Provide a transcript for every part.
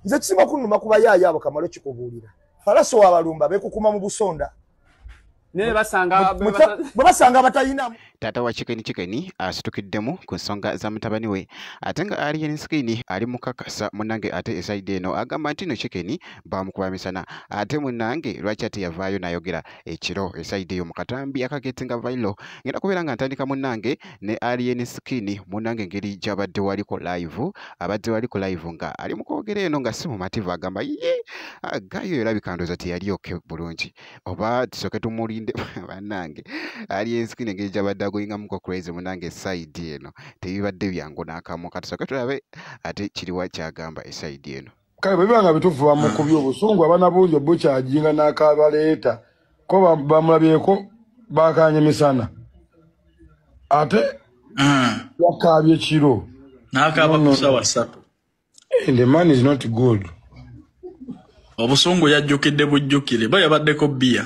nze kisima kunuma kuba yaayo abo kamalo kikubuulira falaso wabalumba bekukuma mu busonda bwe basanga abatalinamu taata wa kikeni kikeni asitukiddemu ku nsonga za mutabani we ate nga alien skin ali mukakasa munange ate esaidi eno agamba nti no kikeni bamukuba misana ate munange lwaki ateyavaayo nayogera ekiro esayidi eyo mukatambi akagetinga vailo ngenda kubeera nga ntandika munange ne alien skin munange engeri gyabadde waliko live abadde waliko live nga ali mukwogera eno nga si mumativu agamba ye ah, gayo erabika ndooza teyali oke bulungi oba tusoke tumulinde banange alien skin engeri gyabadde agoyingamuko crazy munange esayidi eno tebibadde byangu nakamu katusoke tulabe ate kiriwa kyagamba esayidi eno kale bwe biba nga bituufu bamukubye obusungu abana bungi obukyajinga n'akabaleeta ko bamulabyeko bakanye misana ate hmm. yakaabye kiro n'akaaba ku sawa ssatu eh, the man is not good obusungu yajjukidde bujjukire ba yabaddeko bbiya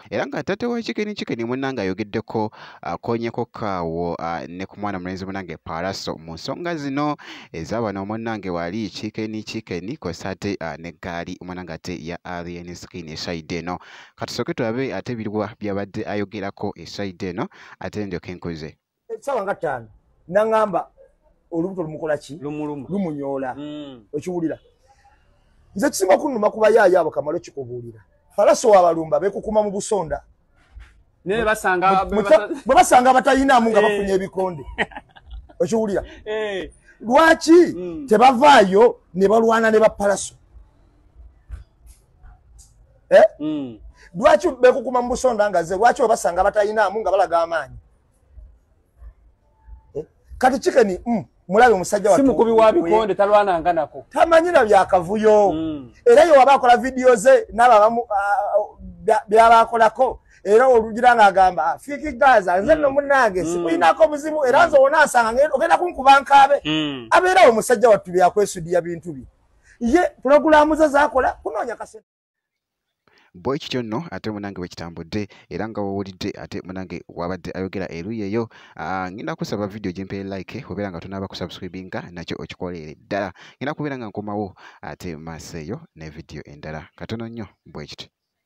era nga taata wa kikini kikini munange ayogeddeko akonyeko kaawo ne ku mwana mulenzi munange paraso mu nsonga zino ezabano munange wali kikeni kikeni kosa ate ne gaali munange ate ya alien skin esaide eno katusooke tulabe ate biriwa byabadde ayogerako esaide eno ate ndyoke nkuze esawa nga tano nangamba olubuto lumukola ki lumunyoola mm. okiwulira nze kisinga okunuma kuba yaayo abo kamala okikubuulira falaso wabalumba bekukuma mu busonda bwe basanga abatayinamu nga eh. bafunye ebikonde okiwulira eh. lwaki mm. tebavaayo ne balwana ne bapalaso eh? mm. lwaki bekukuma mu busonda nga ze lwaki webasanga abatayinamu nga balaga amaanyi eh, kati kikeni mm, mulabe omusajja wa simukubi wa bikonde talwana nga nako tamanyira bya kavuyo mm. era yo waba akola video ze naba bamu uh, ah, oh, byaba akolako era olugira nga agamba ah, fiki gaza nze no mm. munange mm. sikuinako muzimu era nze wona asanga ngendo ogenda kunkuba nkabe mm. abeera omusajja wattu byakwesuddiya bintu bye ye pulogulaamu ze zakola kunoonya kasente bwe kityo nno ate munange bwe kitambudde era nga wowulidde ate munange wabadde ayogera eruyi eyo ah, ngenda kusaba vidiyo gyempere like obeera nga tonaaba kusubscribinga nakyo okikoleere ddala ngenda kubeera nga nkomawo ate maaso eyo ne vidiyo endala katono nnyo bwe kityo